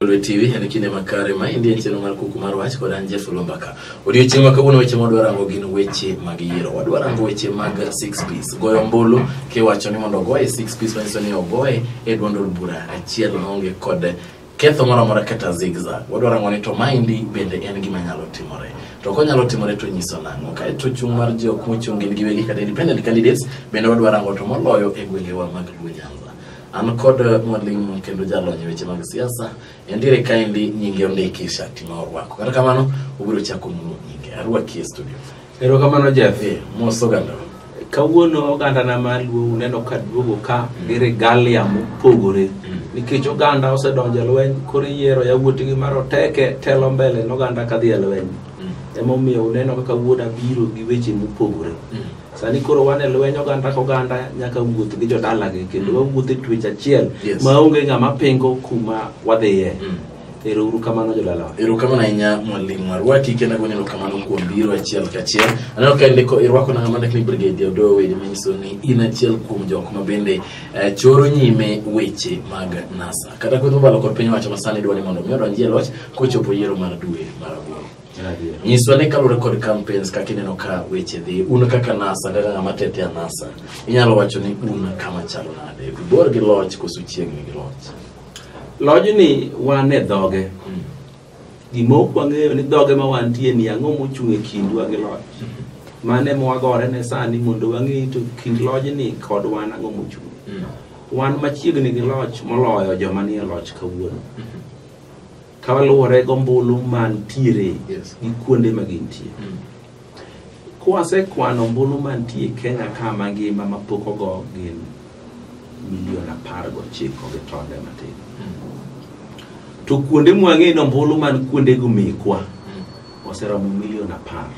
Lwe TV en kinde makare ma indie chenro mar kuku mar wach kod an Jeff Lombaka. Odiochieng' ma kawuono weche ma wadwa rango gin weche mag yiero. Wadwa rango weche mag six piece. Goyo ombulu kiwacho ni mondo ogoye six piece manyiso ni ogoye e duond od bura achiel maonge kod ketho moro amora kata zigzag. Wadwa rango ni to maendi bende en gima nyalo timore. To konyalo timore to nyiso nang'o. Kae to chung' mar ji ok mochung' gin giwegi kata independent candidates bende wadwa rango to moloyo e gwengewa mag Luo Nyanza. An kod mwalimu kendo jalony e weche mag siasa endiere kaendi nyinge ondiki shati ma orwako. Kata kamano obiro chako mulo nyinge. Arwaki e studio. Erokamano Jeff. Eh, mos oganda. Kawuono ogandana ma luo uneno ka duogo ka gi regalia mopogore nikech oganda osedonjo e lweny koro iyiero yawuoti gi maroteke telo mbele noganda kadhi e lweny emomiyo uneno kaka wuoda biro gi weche mopogore sani koro wan e lweny oganda ka oganda nyaka wuoth gi jodalagi kendo mm. wawuoth e twech achiel yes. ma onge ng'ama pingo kuma wadhiye mm. ero uru kamano jodalawa ero kamano ahinya mwalimu arwaki kendo agoni ero kamano kuom biro achiel kachiel aneno ka ndiko irwako na ng'ama ndikni brigade odoyo wede manyiso ni in achiel kuom jok ma bende eh, choro nyime weche mag nasa kata kweth mobalo kod piny wacho masani dwa ni mondo mi odonji e loch kochopo yiero mar dwe mar aboro nyiswa ni kaluwore kod campaigns kaka ineno ka weche dhi un kaka nasa kaka ng'ama tete a nasa inyalo wacho ni un kama chalo nade ibor gi loch koso chiegni gi loch lojni wan e dhoge gima ok wang'eyo ni dhoge ma wantie ni ang'o mochung' e kindwa gi loch mane mwagore ne sani mondo wang'e to kind lojni kod wan ang'o mochung' wan machiegni gi loch moloyo joma nie loch kawuono kaluwore gombulu mantiere Yes. gi kuonde ma gintie Mm. kwasekwano ombulu mantie kenya ka mangima mapok ogo gin milion apar gochiko gi tonde matin to kuonde mwang'e ni ombulu man kuondego mekwa oseromo milion apar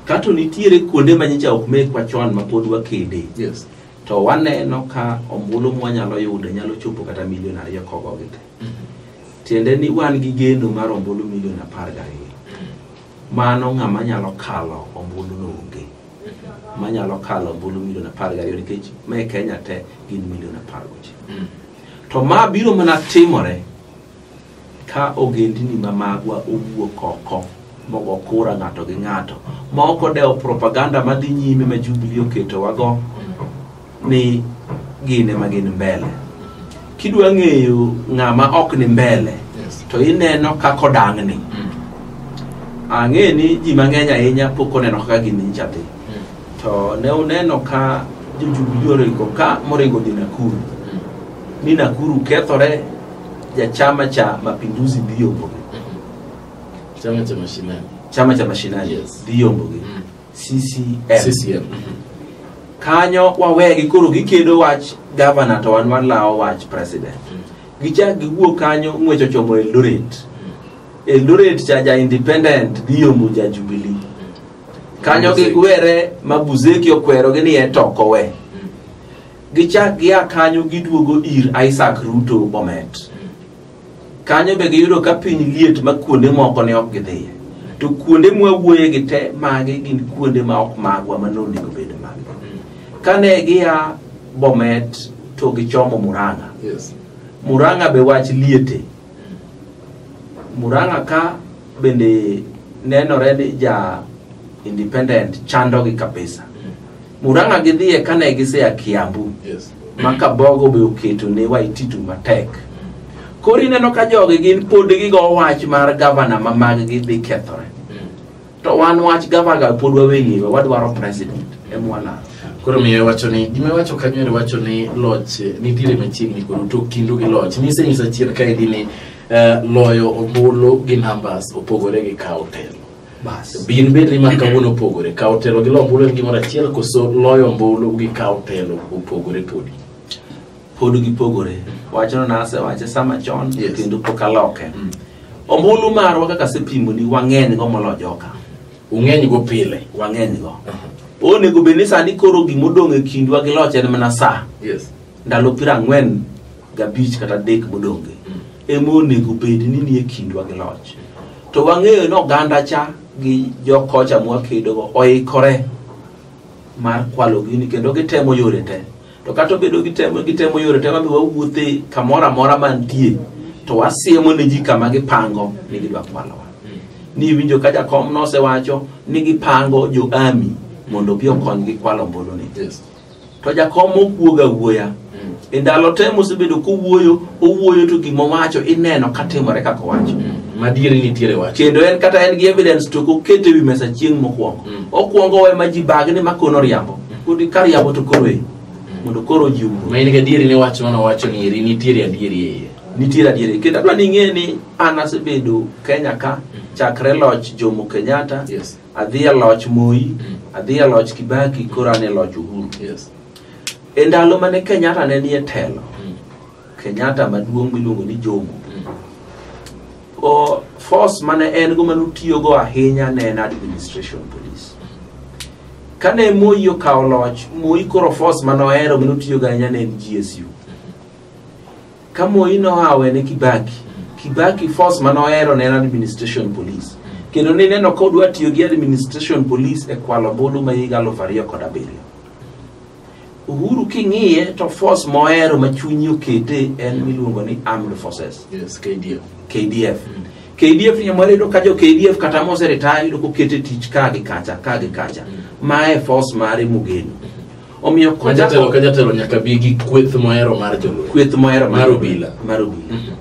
kato nitiere kuonde ma nyicha ok mekwa chon ma pod wakede Yes. to waneno ka ombulu mwanyalo yudo nyalo chopo kata milion ariyo kogogi te tiende ni wan gi geno mar ombulu milion apar gariyo mano ng'ama nyalo kalo ombulu no onge manyalo kalo ombulu milion apar gariyo nikech ma e kenya te gin milion apar gochiko to ma biro mana timore ka ogendini ma magwa owuok oko mogo kura ng'ato gi ng'ato ma ok odewo propaganda madhi nyime ma jubili oketowago ni gin ema gin mbele kidwa ng'eyo ng'ama ok ni mbele Yes. to ineno kaka odang'ni Mm. ang'e ni ji mang'eny ahinya pok oneno kaka gini nyicha dhi Mm. to ne uneno ka jojubilee oringo ka moringo dhi nakuru Mm. ni nakuru kethore jachama cha mapinduzi dhi yombogi Chama cha mashinani. chama cha mashinani Yes. dhi yombogi Mm. CCM. CCM. Kanyo wawegi koro gikedo wach governor to wan walawo wach president. Gichak giwuok kanyo ng'wech ochomo Eldoret. Eldoret cha ja independent dhi yomo ja Jubilee. Kanyo Mabuzeki. gigwere ma Buzeki okwerogi ni en to ok owe. Gichak gia kanyo giduogo ir Isaac Ruto Bomet. Kanyo be giyudo ka piny liet ma kuonde moko ne ok gidhiye. To kuonde mwawuoye gi te magi gin kuonde ma ok magwa ma nonego bed magwa. Kane gia Bomet to gichomo Murang'a. Yes. Murang'a be wach liete. Murang'a ka bende nenore ni ja independent chandogi kabisa. Murang'a gidhiye kane gisea Kiambu Yes. ma Kabogo be oketo ne Waititu matek. Koro ineno ka jogi gin pod gigo wach mar gavana ma maggi dhi kethore. To wan wach gavana pod waweyiewa wadwaro president emwalaro. Koro miyo wacho ni gima wacho kanyo ere wacho ni loch eh, nitiere machiegni koro to kindu gi loch. Nise nyisa chien kae di ni eh, loyo ombulu gi numbers opogore gi kawo telo. Bas. Be in bed ni mar kawuono opogore. Kawo telo gi loyo ombulu en gimoro achiel koso loyo ombulu gi kawo telo opogore podi. pod gipogore wachno nasewache sama chon Yes. kendo pok aloke Mm. ombulu marwa kaka asepimoni wang'eny go molo joka Ung'eny go pile. wang'eny go onego bed ni sani koro gima odong' e kindwa gi loch en mana saa Yes. ndalo piero ang'wen gabich kata adek modonge Mm. ema onego bed ni nie kindwa gi loch to wang'eyo ni oganda cha gi jokocha mwakedogo oikore mar kwalo gini kendo gitemo yore te to kata obedo gitemo gitemo yore te wabi wawuothe kamoro amora mantie to wasiemo ne ji kama gipango ni gidwa kwalowa ni iwinjo ka jakom nosewacho ni gipango jo ami mondo obi okonygi kwalo ombulu ni Yes. to jakom okuoga wuoya mm. e ndalo te mosebedo kowuoyo owuoyo to gima owacho ineno katimore kaka owacho mm. madiere nitiere wach kendo en kata en gi evidence to kokete wi mesa chieng' mokwongo mm. okwongo owe ma ji bag ni ma kono riambo kodi ka riambo to koro e mondo koro ji wuo ma in gadieri ni wach mano wacho ni eri nitiere adieri e iye nitiere adieri kendo adwa ni ing'e ni an asebedo kenya ka chakre loch jomo kenyatta yes. adhi e loch Moi, adhi e loch Kibaki, koro an e loch Uhuru. Yes. E ndalo mane Kenyatta ne nie telo, Mm. Kenyatta maduong' miluongo ni Jomo, Mm. o force mane en go mane otiyogo ahinya ne en administration police. Kane Moi okawo loch, Moi koro force mane ohero mane otiyogo ahinya ne en GSU. ka moi nohawe ne kibaki kibaki force mane ohero ne en administration police kendo nineno ka odwa tiyo gi administration police e kwalo ombulu ma higa aluf ariyo kod abiriyo uhuru king'iye to force mohero ma chunyi okete en miluongo ni armed forces Yes, KDF. kdf kdf nyamwari yudo ka jo kdf kata moseretire yudo kokete tich ka gi kacha ka gi kacha ma e force mare mogeno omiyo Ma jatelo ka jatelo nyaka bi gi kweth mohero mar jolweny kweth mohero Mar obila. mar obila Mhm.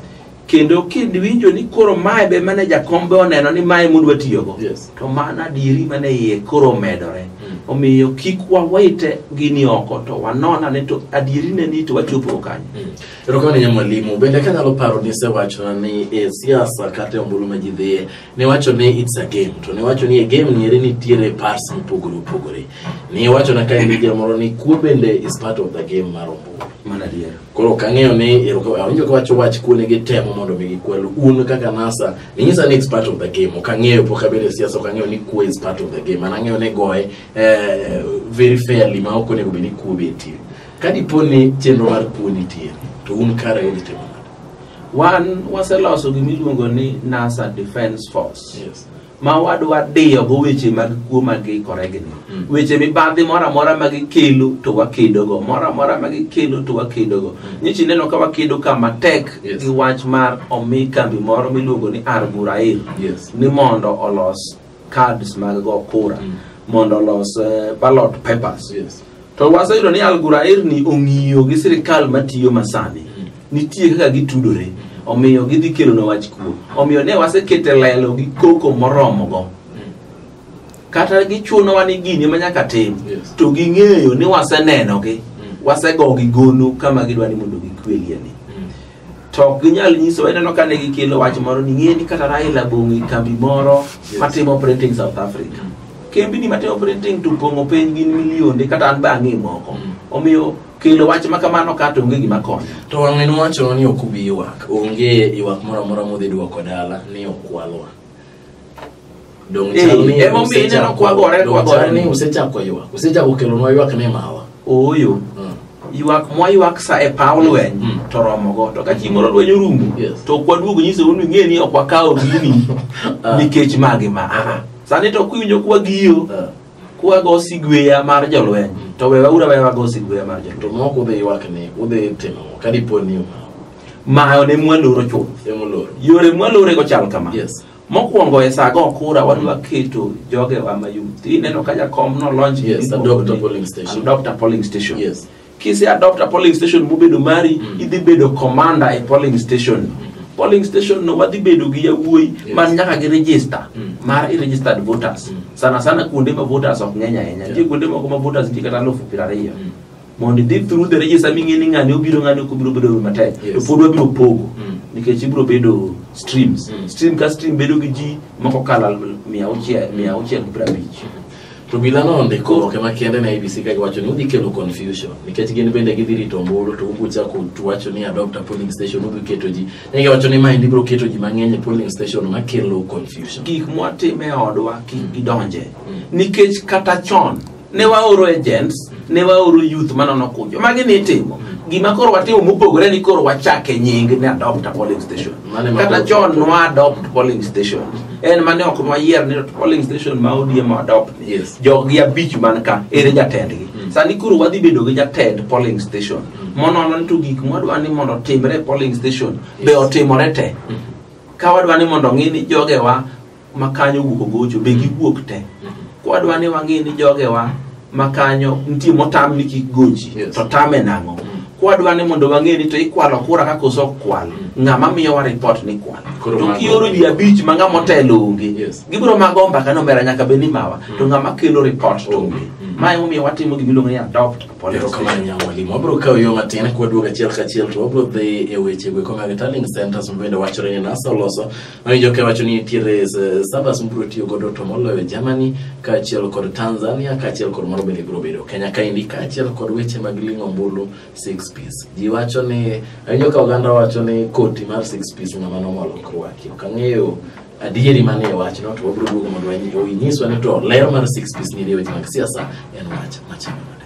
kendo kiwinjo ni koro mae be mane jakombe oneno ni mae mudwa tiyogo Yes. to mano adieri mane iye koro omedore Mm. omiyo kik wawite gini oko to wanona ni to adieri ne ni to wachopo kanyo Mm. erokamano nya mwalimu bende kanyalo paro ni isewachona ni e siasa kata e ombulu ma ji dhiye Niwacho ni it's a game to niwacho ni e game nieri nitiere parts mopogore opogore. Niwacho na kae ni jamoro ni kuo bende is part of the game mar ombulu. Mana adier. Koro ok ang'eyo ni ero ka awinjo ka wacho wach kuo ne gitemo mondo mi gikwel un kaka NASA ninyisa ni it's part of the game. Ok ang'eyo pok abedo e siasa ok ang'eyo ni kuo is part of the game. An ang'eyo ni goye eh, very fairly ma ok onego bed ni kuo betie. Ka dipo ni chenro mar kuo nitie to un kare udhi timo nade? Wan waseloso gima iluongo ni NASA Defense Force. Yes. ma wadwa diyogo weche mag kuo ma giikore gi ni Mm. weche mibadhi moro amora ma gikelo to wakedogo moro amora ma gikelo to wakedogo nyichi ineno ka wakedo ka matek Yes. gi wach mar omi kambi moro miluongo ni Argurair Yes. ni mondo olos cards mag go kura Mm. mondo olos eh, ballot papers Yes. to waseyudo ni algurair ni ong'iyo gi sirikal matiyo masani Mm. nitie kaka gitudore omiyo gidhi kelona wach kuo omiyo ne wasekete lelo gi koko moromogo Mm. kata gichunowa ni gini ma nyaka tim Yes. to ging'eyo ni wasenenogi Mm. wasegogi gono kama gidwa ni mondo gikwelie ni to ok ginyal nyiso ineno kane gikelo wach moro ni ng'e ni kata Raila bong'o e kambi moro matimo printing South Africa kembini matimo printing to pong'o piny gin milionde kata an be ang'e moko omiyo kelo wach ma kamano ka to onge gima konyo to wang'e nowacho ni ok ubi ywak onge ywak moro amora modhi dwoko dala ni okwalwa Donge Eh, chal ni emomiyo usechako- ineno kwagore, donge kwagore chal ni ni. usechako ywak usechako kelonwa ywak ni mawa ooyo Mm. ywak mwayuak sa e paw lweny Mm. to romogo to ka chieng' moro lweny orumo Yes. to ok waduogo nyisou ni ng'e ni ok wakawo gini Ah. nikech magi ma aa sani to kiwinjo kwagiyo Ah, kwago sigweya mar jolweny to wewa ura wewa go sigweya mar jolweny to moko udhi ywak ni udhi timo kadipo ni umawa Mayo ne mwaloro chuth. Ne mwaloro. Yore mwalore go chal kama. Yes. Mokwongo e sago okura wan mm. waketo joge wa ma youth. Ineno ka jakom no launch. Yes, adopt a polling station. Adopt a polling station. Yes. Kise adopt a polling station mubedo mari, mm. idhi bedo commander e polling station. Mm polling station no wadhi bedo gi yawuoyi yes. man nyaka gi register mm. mar registered voters mm. sana sana kuonde ma voters ok ng'eny ahinya nitie yeah. kuonde moko ma voters nitie kata alufu piero ariyo mm. mondo idhi through the register ming'e ni ng'ani obiro ng'ani ok obiro bedo matek Yes. to pod wabiro pogo Mm. nikech ibiro bedo streams Mm. stream ka stream bedo gi ji moko kala mia auchiel mia auchiel gi prabich to bila no ndiko oboke makende na abc ka giwacho ni udhi kelo confusion nikech gin bende gidhi rito ombulu to ubiro chako tuwacho ni adopt a polling station ubiro keto ji ne giwacho ni maendi biro keto ji mang'eny e polling station makelo confusion gik mwatime e odwa kik gidonje nikech kata chon ne waoro agents ne waoro youth manono kunjo magi ni itimo gima koro watimo mopogore ni koro wachake nying ni adopt a polling station Mane ma- kata chon nwa adopt polling station en mane ok nwayier ni polling station ma odiem adopt ni Yes. joggi abich man ka ere jatendgi sani koro wadhi bedo gi jatend polling station monono ni to gik mwadwa ni mondo otimre e polling station be otimore te ka wadwa ni mondo ng'i ni jogewa ma kanyo wuok ogocho be giwuok te kwadwa ni wang'e ni jogewa ma kanyo nitie motam ni kik gochi Yes. to tame nang'o kwadwa ni mondo wang'e ni to ikwalo kura ka koso ok kwal ng'ama miyowa ripot ni kwal Koro to mago- kioro ji abich ma ng'ama otelo onge Yes. gibiro mago mbaka nomera nyaka bed ni mawa to ng'ama kelo ripot to onge Mm. ma emomiyo watimo gima iluongo ni adopt upon erokamano nyawo mwalimu wabiro kawo yo matin kwadwogo achiel kachiel to wabiro dhi e wechego ekomago e tallying centers mabende wachore ni nasa oloso Awinjo ka wacho ni nitiere eh, sabas mibiro tiyo godo to moloyo Germany kaachiel kod Tanzania kaachiel kod moro bende biro bedo Kenya kaendi kaachiel kod weche mag ling'o ombulu six piece. Ji wacho ni awinjo ka oganda wacho ni koti mar six piece ng'ama nomolo kurwaki. Ok ang'eyo adieri mane e wachno to wabiro duogo mondo wanyi- inyiswa ni to ler mar six piece ni e weche mag siasa en wach machalo nade.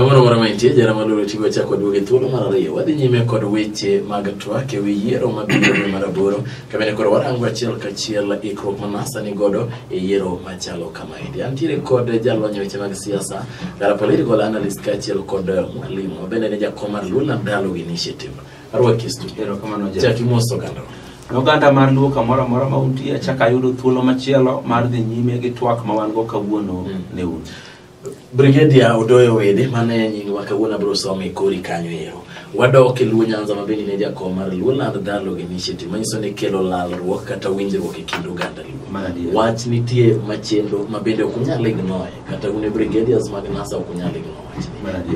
Moro moro mantie jara maloro tigo chako duoge thuolo mar ariyo wadhi nyime kod weche mag twak e wi yiero mabiro dwe mar aboro kabende koro warango achiel kachiel ikruok ma NASA ni godo e yiero machalo kamaendi antiere kod jalony e weche mag siasa gara political analyst kaachiel kod mwalimu mabende ne jakom mar Luna Dialogue Initiative Arwakistu. Erokamano Jack. Jack imos oganda. Oganda mar Luo kamoro amora ma untie, achak ayudo thuolo machielo mar dhi nyime gi twak ma wan go kawuono Mm. ne un. Brigadier Odoyo Wede mane nyingwa kawuono abiro some kori kanyo ero. Wadok e Luo Nyanza ma bende ne jakom mar Luo Land Dialogue Initiative manyiso ni kelo lalruok kata winjruok e kind oganda Luo. Mar adier. Wach nitie machendo ma bende ok unyal ignore kata un e brigadiers mag NASA ok unyal ignore.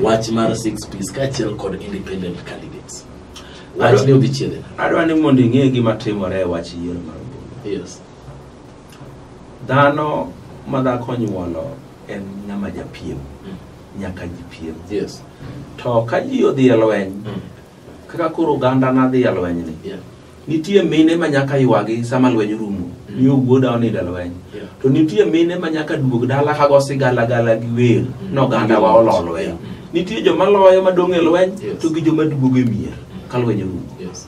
wach mar six piece kaachiel kod independent candidates wach ni odhi chiele adwa ni mondo ing'e gima timore e wach yiero mar ombulu yes dhano ma dhako nyuolo en ng'ama japiem Mm. nyaka jipiem yes to ka ji odhi e lweny Mm. kaka koro oganda na dhi e lwenyni yeah nitie mine ma nyaka ywagi sama lweny rumo ni wuoda onindo e lweny Yeah. to nitie mine ma nyaka duog dala ka go sigala gala gi wer no ganda wa olo lweny nitie joma loyo ma dong' e lweny Yes. to gi joma duogo e mier ka lweny rumo Yes.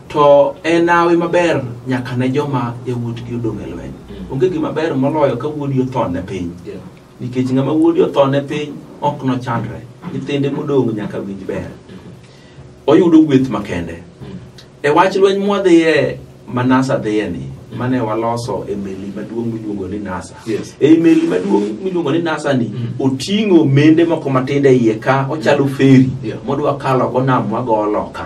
to en awe maber nyaka ne joma yawuotgi odong' e lweny Mm. onge gima ber moloyo ka wuodi othone piny Yeah. nikech ng'ama wuode othone piny ok nochandre nyithinde modong' nyaka winj ber oyudo gweth makende e wach lweny mwadhiye ma nasa dhiye ni mane waloso e meli maduong' miluongo ni nasa Yes. e meli maduong' miluongo ni nasa ni Mm. oting'o mende moko matindo e iye ka ochalo feri Yeah. modwa kalo go nam wago loka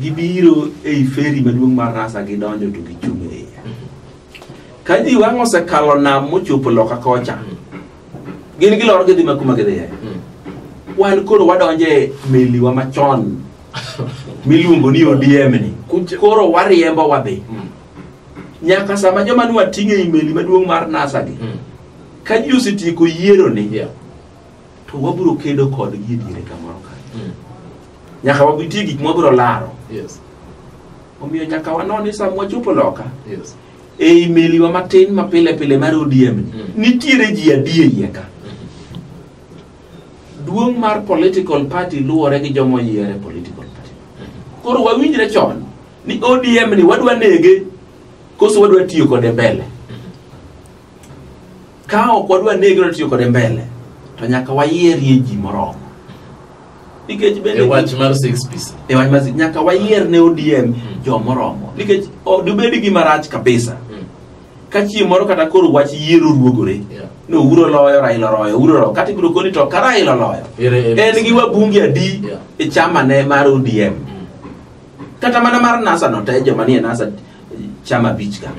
Gibiro ei feri maduong' mar rasa gidonjo to gichung' e iye. Ka ji wang' osekalo nam mochopo loka kocha, gin gilor gidhi ma kuma gidhiye. Wan koro wadonjo e meliwa machon miluongo ni ODM ni. Kucha. Koro wariembo wadhi. Mm. Nyaka sama joma nwating'o e meli maduong' mar NASA gi, Mm. ka ji osetieko yiero ni Yeah. to wabiro kedo kodgi e diere kamoro ka Mm. nyaka wabitie gik mwabiro laro Yes. omiyo nyaka wanon ni sama wachopo loka Yes. ei meliwa matin ma pile pile mar ODM ni, Mm. nitiere ji adi e iye ka duong' mar political party luwore gi joma oyiere political party koro wawinjre chon ni ODM ni wadwa nege koso wadwa tiyo kode mbele ka ok wadwa negre to tiyo kode mbele to nyaka wayierie ji moromo nikech bende e wach mar six piece e wach mar nyaka wayier ne ODM mm. jo moromo nikech dubed gi marach kabisa mm. ka chieng' moro kata koro wach yiero ruogore yeah. no uro loyo raila oloyo uro loyo kata ibiro koni to ka raila oloyo en gi wabunge adi yeah. e chama ne mar ODM mm. kata mana mar nasa no te joma nie nasa chama bich ka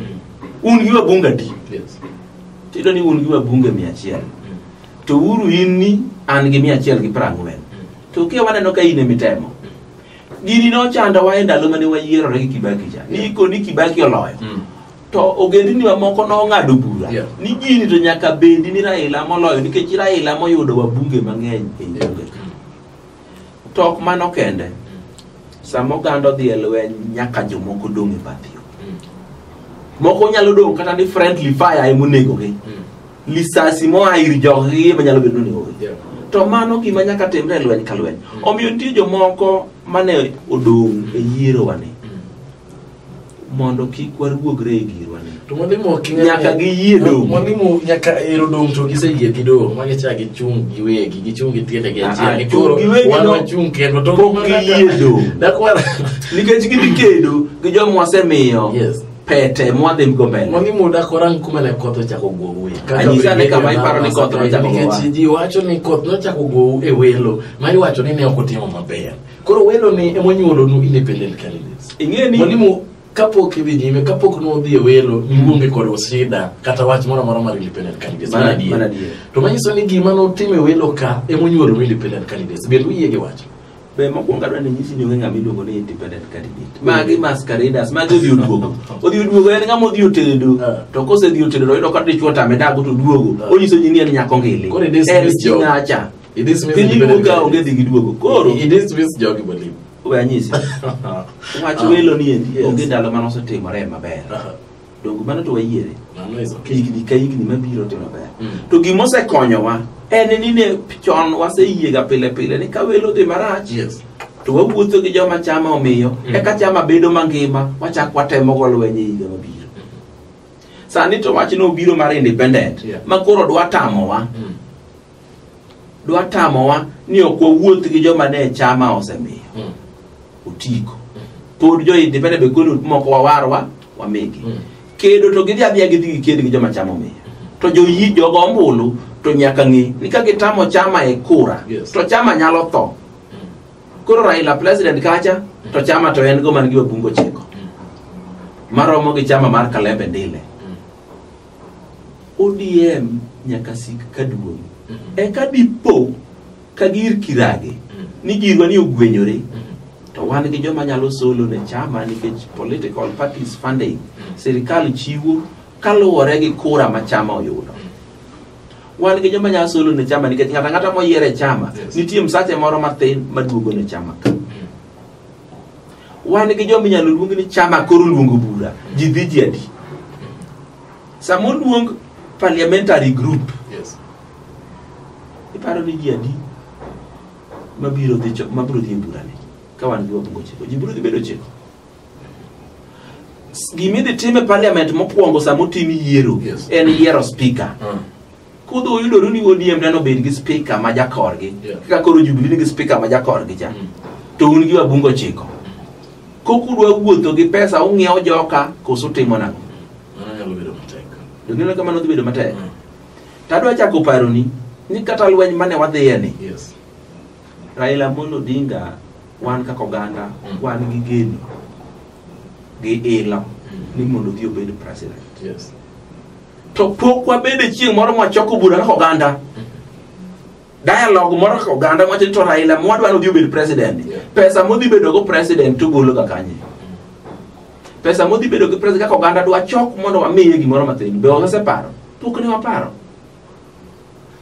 un gi wabunge adi Yes. tiyudo ni un gi wabunge mia achiel to uru in ni an gi mia achiel gi piero ang'wen to kia waneno ka in emitemo gini nochandowa e ndalo mane wayierore gi kibaki cha ni iko ni kibaki oloyo Mm. to ogendini mamoko nong'ado bura Yeah. ni gini to nyaka bedi ni raila moloyo nikech raila moyudo wabunge mang'eny e Yeah. bunge ka. to ok mano kende sama oganda odhi e lweny nyaka jomoko dong' e bath yo moko nyalo dong' kata ni friendly fire ema onegogi lisasi moa ir joggi ema nyalo bedo ni onegogi Yeah. to mano gima nyaka timre e lweny ka lweny omiyo nitie jomoko mane odong' e yierowani mondo kik waruogre e girwa ni to mwalimu ok ing'e- Nyaka giyie dong'. mwalimu nyaka ero dong' to giseyie gi dong' ma gicha gichung' giwegi gichung' gi tiende gi Ah, achiel ah, gi koro chung' giwegi wan no. wachung' kendo to Pok giyie dong'. dakwa nikech gidhi kedo gi joma wasemiyo Yes. pete mwadhi go mbele mwalimu dakorang kuma ne koth ochako gowi Anyisa ni kama iparo ni koth nochako gowa. nikech ji wacho ni koth nochako gowu e welo ma iwacho ni ne ok otimo maber Koro welo ni ema onyuolonu independent candidates. Ing'e ni- Mwalimu kapok idhi nyime kapok nodhi e welo niwuonge kod osida kata wach moro amora mar independent candidates. Mano Mano adier. mano adier. To manyiso ni gima notimo e welo ka ema onyuolonu independent candidates. Bende uyie gi wach? be mokwongo adwa ni nyisi ni onge ng'ama iluongo ni independent candidate magi masqueraders magi odhi oduogo odhi oduogo en ng'ama odhi otedo Ah. to kosedhi otedo to oyudo ka dichwo tame dago to duogo Ah. onyiso ji ni en nyako ngili Koro it is en this job. sinacha It this means Piny independent iwuok ka onge dhi gi duogo. Koro It this means jogi believe. we anyisi. Wach Ah. welo ni endi Yes. onge ndalo mane osetimore maber. Uh-huh. Donge mano to wayiere. Mano is okay. higni ka higni mabiro to maber Mm. to gima osekonyowa en ni ne chon waseyiega pile pile ni ka welo dhi marach Yes. to wawuotho gi joma chama omiyo Mm. eka chama bedo mangima wachak watemo go lweny e higa mabiro sani to wachno obiro mar independent Yeah. ma koro dwa tamowa Mm. dwa tamowa ni ok wawuoth gi joma ne chama osemiyo Mm. otiko pod jo independent be koni moko wawarwa wamigi Mm. kedo to gidhi adhiya gidhi giked gi joma chama omiyo to joyi jogo ombulu to nyaka ng'e ni ka gitamo chama e kura Yes. to chama nyalo tho koro raila president kacha to chama to en go man gi wabungo chiko maromo gi chama mar kalembe ndile ODM nyaka sik ka duong'. Eka dipo ka gir kirage ni girwa ni ogwenyore to wan gi joma nyalo solo ne chama nikech political parties funding sirikal chiwo kaluwore gi kura ma chama oyudo. Wan gi joma nyalo solo ne chama nikech ng'ata ng'ata moyiere chama Yes. nitie msache moro matin maduogo ne chama ka. wan gi joma inyalo luong ni chama koro luongo bura ji dhi ji adi sama oluong parliamentary group Yes. iparo ni ji adi mabiro dhi cho- mabiro dhi e burani ka wan gi wabunge ochiko ji biro dhi bedo ochiko S- gima idhi tim e parliament mokwongo sama otim yiero Yes. en yiero speaker Mm. kudhi uyudoru ni odm teno bed gi spika ma jakorgi Yeah. kaka koro jubilee nigi spika ma jakorgi cha Mm. to un gi wabungo chiko kokudwa wuotho gi pesa ung'iewo joka koso timo nang'o Mano nyalo bedo matek. doneno kamano dhi bedo matek Mm. tadwa chako paroni ni kata lweny mane wadhiye ni Yes. raila amolo odinga wan kaka oganda Mm. wan gi geno gi ilo Mm. ni mondo odhi obed president Yes. to pok wabede chieng' moro mwachoko bura kaka oganda dialogue moro kaka oganda mwacho ni to raila mwadwa nodhi obed president pesa modhi bedogo president tugologa kanye pesa modhi bedo gi president kaka oganda dwachok mondo wamiye gimoro mathin be waseparo pok ne waparo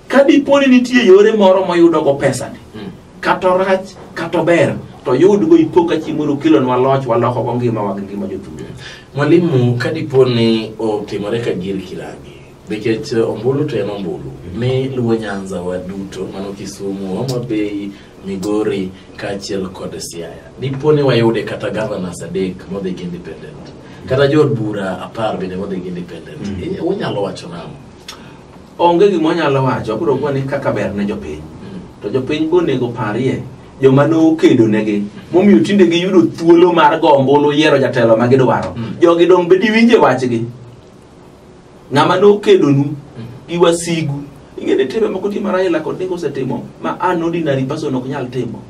ka dipo ni nitie yore moro moyudogo pesani Mm. kata orach kata ober to yudgo ipo ka chieng' moro okelonwa loch walokogo ngimawa gi ngima jothum mwalimu ka dipo ni otimore ka gir kirangi nikech eh, ombulu to en ombulu mi luwo nyanza wa duto mano kisumu homa bay migori kaachiel kod siaya dipo ni wayude kata governors adek modhi gi independent kata jood bura apar bende modhi gi independent Mm. Inya- unyalo wacho nang'o Onge gima onyalo wacho, obiro kuwa ni kaka ber ne jopiny. To jopiny bonego parie joma nokedo negi momiyo tinde giyudo thuolo mar go ombulu yiero jatelo ma gidwaro. Mm. Jogi dong' be diwinje wachgi. Ng'ama nokedonu gi wasigu. Ing'e ni timbe moko ti ma Raila kod Odinga osetimo ma an ordinary person ok nyal timo.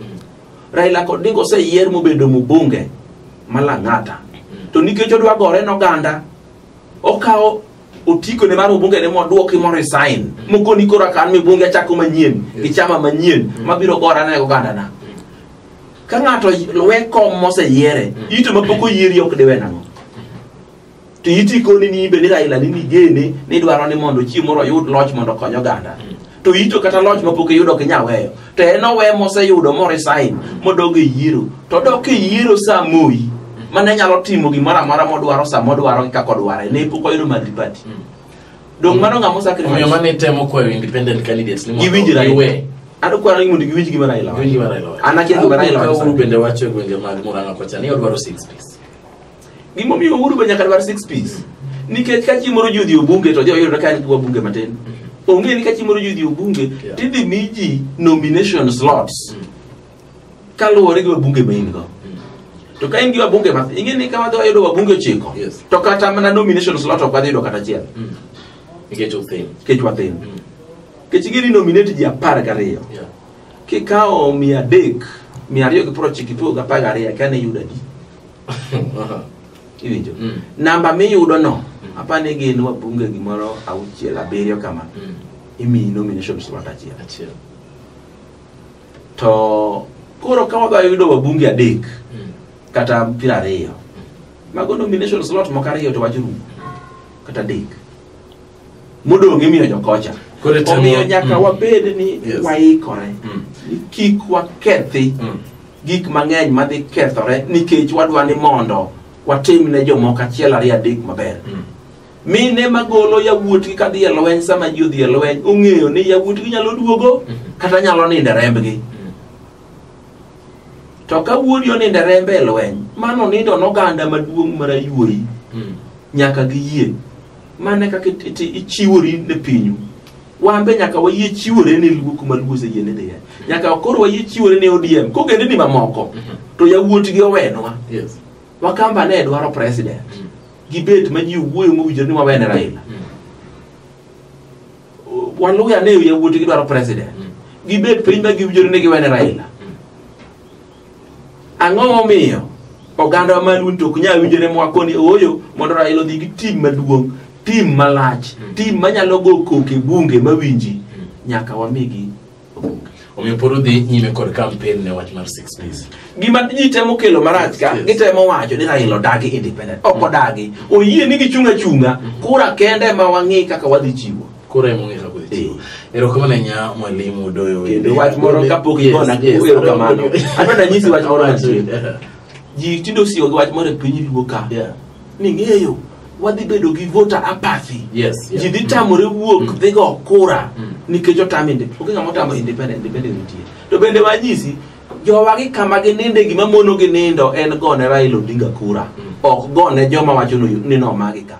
Raila kod Odinga oseyier mobedo mbunge ma Lang'ata. To nikech odwa gore noganda, okawo otiko ne mar obunge ne modwoki mo resign mokoni koro akan mi bunge achako manyien gi chama manyien mabiro gora ne oganda na ka ng'ato we kom moseyiere ito mapok oyieri ok diwe nang'o to iti koni ni ibe ni Raila ni nigene ni dwaro ni mondo chieng' moro oyud loch mondo okony oganda to ito kata loch mapok iyudo ok inyal weyo to en owe moseyudo moresign modog e yiero to odok e yiero sa moyi mane nyalo timo gimoro amora modwaro sa modwaro gi kaka odware ne pok oyudo madhi pati dong mano ng'ama osacrifice omiyo mane temo kwayo independent candidates ni mondo giwinjre giwe ado kwaro ni mondo giwinj gima Raila wacho. Giwinj gima Raila wacho. An akia gima Raila wacho. Uhuru bende wacho e gwenge mag Murang'a kocha ni odwaro six piece Gima omiyo Uhuru be nyaka dwar six piece. Nikech ka chieng' moro ji odhi e bunge to joyudo ka en wabunge matin. Onge ni ka chieng' moro ji odhi e bunge Yeah. to idhi mi ji nomination slots kaluwore gi wabunge ma in go. To ka in gi wabunge matin, ing'e ni ka wadhi wayudo wabunge ochiko Yes. to kata mana nomination slot ok wadhi yudo kata achiel Mm. Nikech othin. nikech wathin. Mm. Nikech ing'e ni nominate ji apar gariyo. Yeah. kikawo mia adek mia ariyo gi piero ochiko ipogo gi apar gariyo kane iyudo adi iwinjo Mm. namba miyudo no Mm. apa ni gin wabunge gimoro auchiel abiriyo kama Mm. imiyi nomination slot achiel Achiel. to koro ka wadwa yudo wabunge adek Mm. kata piero ariyo mago nomination slot moko ariyo to wach rumo kata adek modong' imiyo jokocha Koro itemo- omiyo nyaka Mm. wabed ni Yes. waikore Mm. ni kik wakethi Mm. gik mang'eny madhi kethore nikech wadwa ni mondo watim ne jomoko achiel ariyo adek maber Mm. mine magolo yawuotgi kadhi e lweny sama ji odhi e lweny ong'eyo ni yawuotgi nyalo duogo Mhm. kata nyalo nindo e rembgi Mm. to ka wuodi onindo e rembe e lweny mano nindo noganda maduong' marayuoyi Mm. nyaka giyie mane kaka it- it- ichiwori ne pinyu wan be nyaka wayie chiwore ne luo kuma luo oseyie ni dhiye nyaka koro wayie chiwore ne odm kogendeni mamoko to yawuot gi owenwa Yes. wakamba ne dwaro president gibet ma ji wuoyo mowinjore ni wawene raila waluya ne yawuot gi dwaro president gibet piny ma giwinjore ni giwene raila Ang'o momiyo oganda wa maluo to ok nyal winjore mwako ni ooyo mondo Raila odhi gi tim maduong', tim malach, tim manyalo go koke bunge mawinji nyaka wamigi obuonge. Omiyo pod udhi nyime kod kampen ne wach mar six days. gima ji temo kelo marach ka Yes. gitemo wacho ni Raila odagi independent ok odagi oyie ni gichung' achung'a kura kende ma wang'i kaka wadhi chiwo koro ema ong'e kaka odhi chiwo erokamano ahinya mwalimu udoyo wende. kendo wach moro kapok Yes, igona yes, erokamano adwa- adwa nanyisi wach moro mantie Yeah. ji tinde osiwo gi wach moro e piny luo ka Yeah. ni ng'eyo wadhi bedo gi voter apathy Yes, yeah. ji dhi tamore wuok Mm. dhi go kura Mm. nikech otam inde- onge ng'ama otamo independent independent nitie to bende wanyisi jowa gi kama gininde gima mono gi nindo en gone Raila Odinga kura Mm. ok gone joma wacho ni- ni nomagi ka